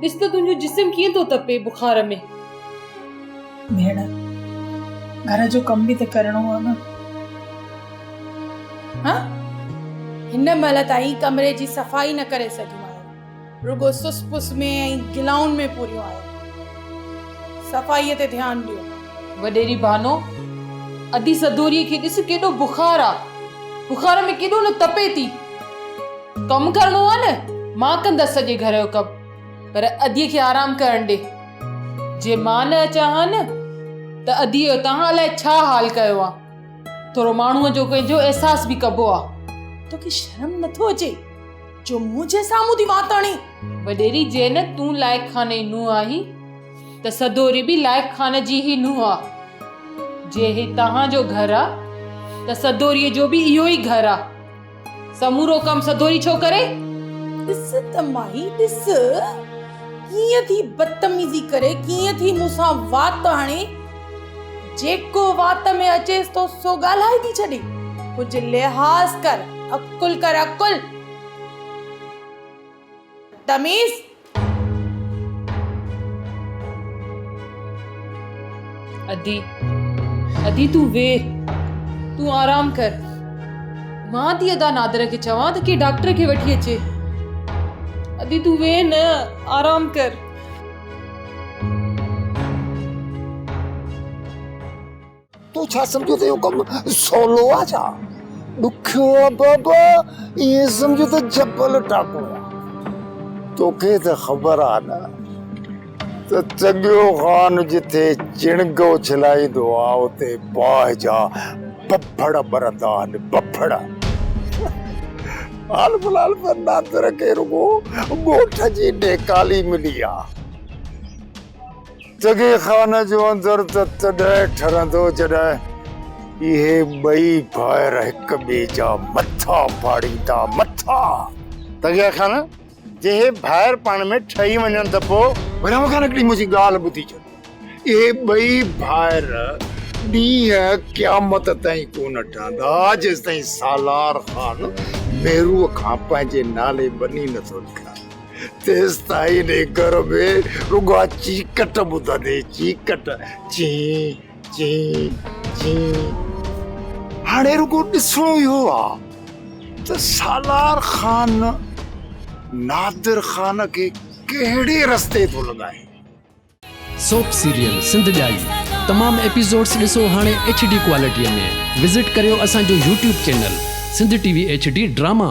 ڏس ته تنهنجو جسم ڪيئن ٿو تپي بخار ۾. ڀيڻ! گهر جو ڪم به ته ڪرڻو آ نه. هان! هن مهل تائين ڪمري جي صفائي نه ڪري سگهيون آهيون. رڳو سس پس ۾ ۽ گلائن ۾ پوريون آهيون. صفائيء تي ڌيان ڏيو. وڏيري بانو! ادي سدوريء کي ڏس ڪيڏو بخار آ. بخار ۾ ڪيڏو نه تپي ٿي. ڪم ڪرڻو آ نه مان ڪندس سڄي گهر جو ڪم پر ادي کي آرام ڪرڻ ڏي جي مان نه اچان ها نه ته ادي جو توهان الائي ڇا حال ڪيو آ ٿورو ماڻهو جو پنهنجو احساس به ڪبو آ توکي شرم نٿو اچي جو منهنجي سامهون ٿي وات آڻي وڏيري جي نه تون لائق خان جي نونهن آهين ته سدوري به لائق خان جي هي نونهن آ جي هي توهان جو گهر آ ته سدوري جو به اهو ئي گهر آ سمورو ڪم سڌوري ڇو ڪري؟ ڏس ته مائي ڏس ڪيئن ٿي بدتميزي ڪري ڪيئن ٿي مون سان وات هڻي جيڪو وات ۾ اچيس ٿو سو ڳالهائي ٿي ڇڏي ڪجهه لحاظ ڪر عقل ڪر عقل تميز ادي ادي تون ويھ تون آرام ڪر مان ٿي ادا نادر کي چوان ته ڪي ڊاڪٽر کي وٺي اچي ادي تون ويھ نه آرام ڪر تون ڇا سمجهيو ته اهو ڪم سولو آهي ڇا؟ ڏکيو آهي بابا، ائين سمجهه ته جبل ٽاڪڻو آهي. توکي ته خبر آهي نه ته چڳيو خان جتي چڻگ اڇلائيندو آهي اتي باهه جا ٻڦڙ ٻرندا آهن، ٻڦڙ. حال في الحال ته نادر کي رڳو ڳوٺ جي ڏيڪالي ملي آهي. جڳي خان جو اندر ته تڏهن ٺرندو جڏهن اهي ٻئي ڀائر هڪ ٻئي جا مٿا ڦاڙيندا مٿا. تغيا خان جي اهي ڀائر پاڻ ۾ ٺهي وڃن ته پوء. برهم خان هڪڙي منهنجي ڳالهه ٻڌي ڇڏ اهي ٻئي ڀائر ڏينهن قيامت تائين ڪونه ٺهندا جيستائين سالار خان ميرو کان پنهنجي نالي بني نٿو لکرائي. تيستائين انهي گهر ۾ رڳو اها چيڪٽ ٻڌندي، چيڪٽ، چين، چين، چين. هاڻي رڳو ڏسڻو اهو آ ته سالار خان نادر خان کي ڪهڙي رستي ٿو لڳائي. سوپ سيريل سنڌ ڄائي تمام ايپيسوڊس ڏسو هاڻي ايڇ ڊي ڪوالٽي ۾ وزٽ ڪريو اسان جو YouTube channel Sindh T V H D drama.